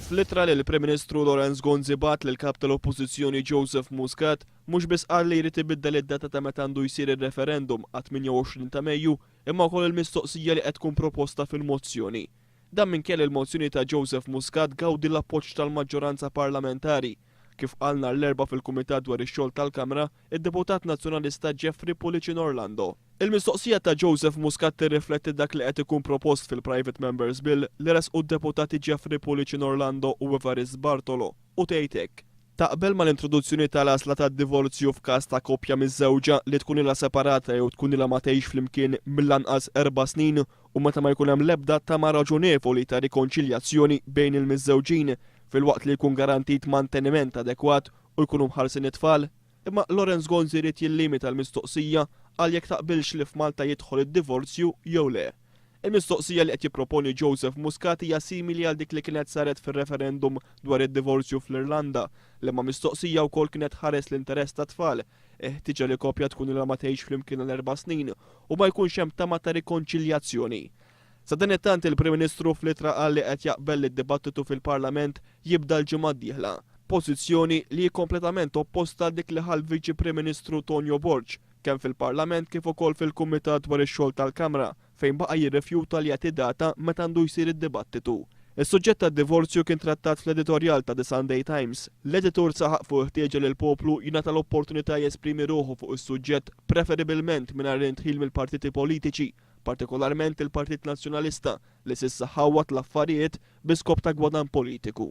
Fl-ittra li l-Prim Ministru Lawrence Gonzi bagħat lill-Kap tal-Oppożizzjoni Joseph Muscat, mhux biss qal li jrid ibiddel id-data ta' meta għandu jsir ir-referendum għat-28 ta' Mejju, imma wkoll il-mistoqsija li qed tkun proposta fil-mozzjoni. Dan minkejja li l-mozzjoni ta' Joseph Muscat tgawdi l-appoġġ tal-maġġoranza parlamentari. Kif qal nhar l-Erbgħa fil-Kumitat dwar ix-Xogħol tal-Kamra, id-Deputat Nazzjonalista Jeffrey Pullicin Orlando, il-mistoqsija ta' Joseph Muscat tirrifletti dak li qed ikun propost fil-Private Member's Bill li ressqu d-Deputati Jeffrey Pullicin Orlando u Evarist Bartolo u tgħid hekk, Taqbel mal-introduzzjoni tal-għażla tad-divorzju f'każ ta' koppja miżżewġa li tkun ilha separata jew tkun ilha ma tgħix flimkien mill-anqas erba' snin u meta ma jkun hemm l-ebda tama raġonevoli ta' rikonċiljazzjoni bejn il-miżżewġin, filwaqt li jkun garantit manteniment adekwat u jkunu mħarsin it-tfal. Imma Lawrence Gonzi ried jillimita l-mistoqsija għal jekk taqbilx li f'Malta jidħol id-divorzju jew le. Il-mistoqsija li qed jipproponi Joseph Muscat hija simili għal dik li kienet saret fir-referendum dwar id-divorzju fl-Irlanda, liema mistoqsija wkoll kienet tħares l-interess tat-tfal, Il-ħtieġa li koppja tkun ilha ma tgħixx flimkien għal erba' snin u ma jkunx hemm tama ta' rikonċiljazzjoni. Sadanittant, il-Prim Ministru fl-ittra qal li qed jaqbel li d-dibattitu fil-Parlament jibda l-ġimgħa d-dieħla, pożizzjoni li hi kompletament opposta għal dik li ħa l-Viċi Prim Ministru Tonio Borg, kemm fil-Parlament kif ukoll fil-Kumitat dwar ix-Xogħol tal-Kamra, fejn baqa' jirrifjuta li jagħti data meta għandu jsir id-dibattitu. Is-suġġett tad-divorzju kien trattat fl-editorjal ta' The Sunday Times. L-editur saħaq fuq il-ħtieġa li l-poplu jingħata l-opportunità jesprimi ruħu fuq is-suġġett preferibilment mingħajr indħil mill-partiti politiċi, partikolarment il-Partit Nazzjonalista li s'issa ħawwad l-affarijiet bi skop ta' gwadann politiku.